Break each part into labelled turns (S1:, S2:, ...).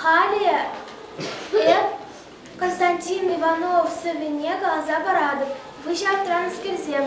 S1: Халӗ эп Константин Иванов-Сӑвӗне каласа паратӑп. Выҫӑ транскерсем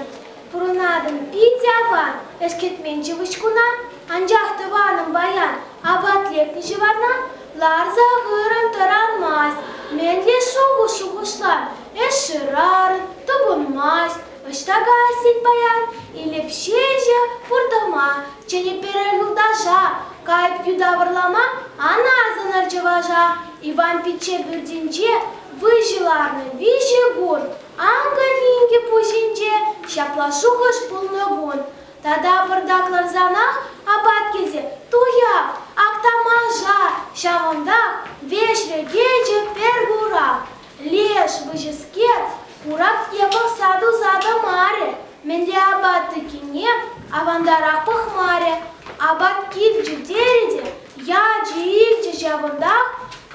S1: пурӑнатӑн. Питӗ аван ӗҫкӗтмен ҫывӑҫкуна, анчах тӑванӑм баян апат лекнӗ ҫӑварна ларса хырӑн тӑранмасть. Мӗнле шухӑш-шухӑшлам, эс шырарӑн, тупӑнмасть. Ӑҫта-ка син паян? Илеп ҫеҫӗ пуртӑма, чӗнӗ пире юлташа. Кайӑп юта вӑрлама, ана асӑнӑр чӑваша. Иван пичче пӳртӗнче выҫӑ ларнӑ виҫӗ кун, анкӑ-минкӗ пуҫӗнче ҫапла шухӑш пулнӑ кун. Тата пӑртаклансанах апат килсе туяп, Актамаша, ҫавӑнтах веҫрӗ кечӗ пӗр курак. Леш выҫӑскер хурах япӑхса туса тӑмарӗ, мӗн те апат тӑккине авантара пӑхмарӗ, апат килчӗ терӗ те ячӗ-илчӗ ҫавӑнтах,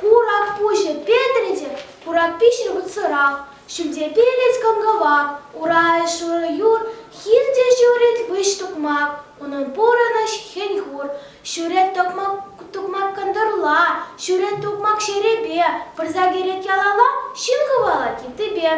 S1: курак пуҫӗ петрӗ те куракпи ҫырпӑтсӑрах, ҫӳлте пелӗт кӑн-кӑвак, ура ӗҫ шурӑ юр, хирте ҫурӑль выҫ тукмак. Унӑн пурӑнӑҫ хӗн-хур, ҫӳрет тукмак кӑнтӑрла, ҫӳрет тукмак ҫерепе, вырса кӗрет ялалла ҫын хӑвалать йыттипе.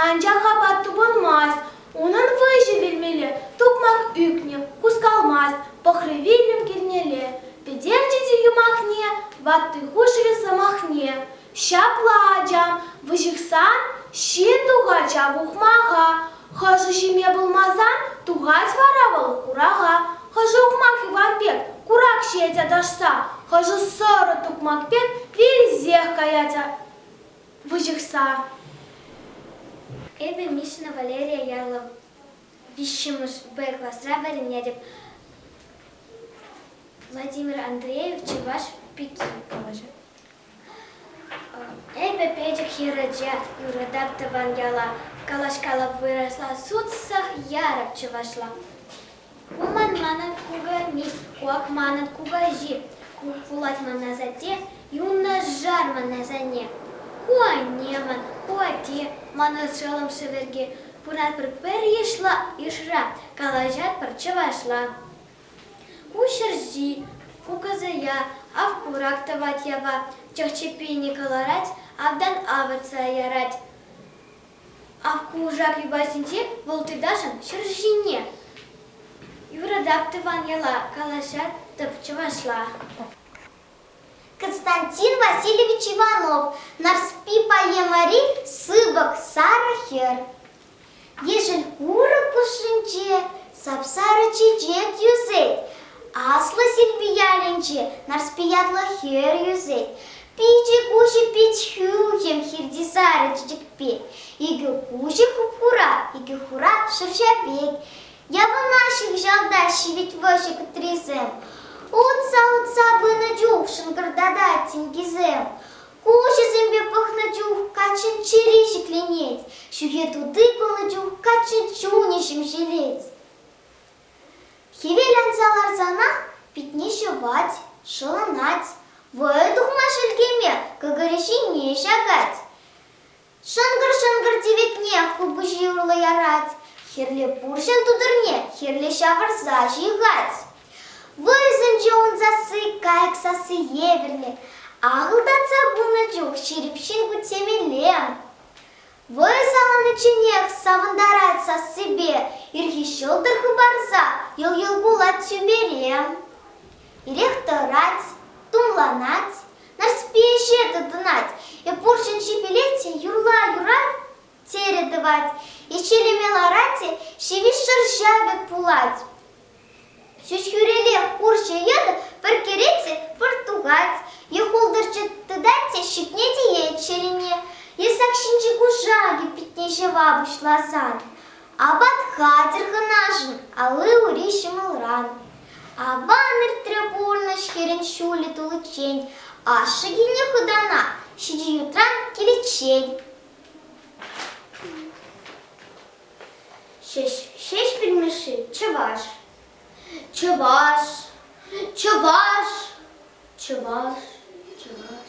S1: Анчах апат тупӑнмасть, унӑн выҫӑ вилмелле, тукмак ӳкнӗ, хускалмасть, пӑхрӗ вилӗм кӗрнелле, пӗтерчӗ те юмахне, ватти хушрӗ сӑмахне. Ҫапла, ачам, выҫӑхсан ҫын тухача ухмаха хӑшӗ ҫиме пулмасан, тухать вара вӑл хураха. Хӑшӗ ухмах Иван пек курак ҫиет аташса, хӑшӗ сӑрӑ тукмак пек вилсех каять выҫӑхса.
S2: Эпӗ Мишна Валерия ятлӑ виҫҫӗмӗш Б класра вӗренетӗп. Владимир Андреев Чӑваш пики калаҫать. Эпӗ пӗчӗк хӗрача, юратап тӑван яла, калаҫкалап вырасла сутсах ярӑп чӑвашла. Уман манӑн кукамит, куак манӑн кукаҫи, ку пулать ман асатте, юнашар ман асанне. Ку анне ман, ку атте, ман ӑшшӑлӑм шӗверге, пыратпӑр пӗр йышла, йышра, калаҫатпӑр чӑвашла. Ку ҫерҫи, кукӑсӑя ав курак тӑвать япа, чӑх-чӗппине кӑларать, автан авӑртса ярать. Ав кушак юпасенче вӑл тытасшӑн ҫӗр ҫине. Юратап тӑван яла, калаҫатӑп чӑвашла.
S3: Константин Васильевич Иванов, Нарспи поэмари сыпӑк сарӑ хӗр. Ешӗл курӑк хушшинче сап-сарӑ чечек йӳсет. Аслӑ Силпи ялӗнче Нарспи ятлӑ хӗр йӳсет. Пичӗ куҫӗ пит хӳхӗм хирти сарӑ чечекпе. Икӗ куҫӗ хуп-хура, икӗ хура шӑрҫа пек. Явӑна ҫыпӑҫалта ҫивӗч вӑрҫӑ кӑтрисем. Утса-утса пынӑ чух шӑнкӑртатать тинкисем. Куҫӗсемпе пӑхнӑ чух каччӑн чӗри ҫӗкленет, ҫӳхе тути кулнӑ чух каччӑн чунӗ ҫемҫелет. Хӗвел анса ларсанах питне ҫӑвать, шӑлӑнать, вӑйӑ тухма шелкеме кӑкӑрӗ ҫине ҫакать. Шӑнкӑр-шӑнкӑр тиветне хулпуҫи урлӑ ярать, хирле пурҫӑн тутӑрне хирле ҫавӑрса ҫыхать. Вӑйсенче ун сасси кайӑк сасси евӗрлӗ. Ахӑлтатса пынӑ чух ҫирӗп ҫын кутсемелле. Вӑй саланичченех савӑнтарать сассипе, ирхи ҫӑлтӑр хыпарса йӑл-йӑл кулать тӳпере. Ирех тӑрать, тумланать, Нарспи ӗҫе тытӑнать. Эп пурҫӑнҫи пӗлетчӗ, юрла юра, терӗ тӑвать. Ӗҫелеме ларать те ҫивӗч шӑрҫа пек пулать. Ҫӳҫ хӳрелех хурҫӑ йытӑ пӗркерет те пӑртукать. Е хултӑрччӑ тытать те ҫитне тиет ҫерене. Е сак ҫинчи кушакӗ питне ҫӑва пуҫласан. Апат хатӗр хӑнашӑн алли-ури ҫӑмӑлран. Аван иртрӗ пурнӑҫ хӗрӗн ҫулӗ туличчен. Ашшӗ килне хӑтана ҫичӗ ютран киличчен. Ҫеҫ, Ҫеҫпӗл Мишши, чӑваш. Чӑваш, чӑваш, чӑваш, чӑваш.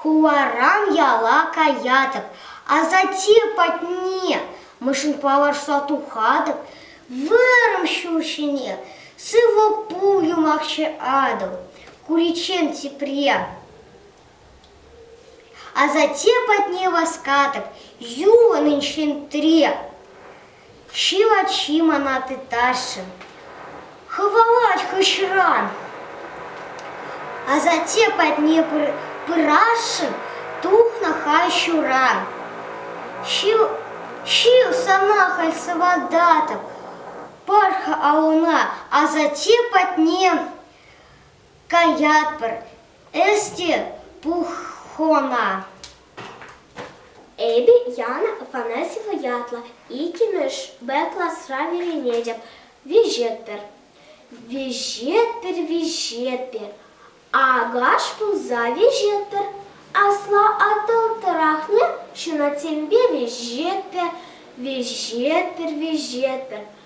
S3: Хуларан яла каятӑп, асатте патне мӗншӗн палӑрса тухатӑп, вырӑн ҫул ҫине сывӑ пул юмахҫӑ Атӑл, куриччен тепре. Асатте патне васкатӑп, юлӑн инҫетре. Ҫил ачи мана тытасшӑн, хӑвалать хыҫран. Асатте патне пырасшӑн тухнӑ хай ҫуран. Ҫил, ҫил сана халь сывататӑп, пар-ха алӑна асатте патне. Каятпӑр, эс те пух хона.
S1: Эпӗ Яна Афанасьева ятлӑ иккӗмӗш Б класра вӗренетӗп. Виҫетпӗр. Виҫетпӗр, виҫетпӗр. Акаш пулса виҫетпӗр. Асла Атӑлтӑрахне ҫунатсемпе виҫетпӗр, виҫетпӗр, виҫетпӗр.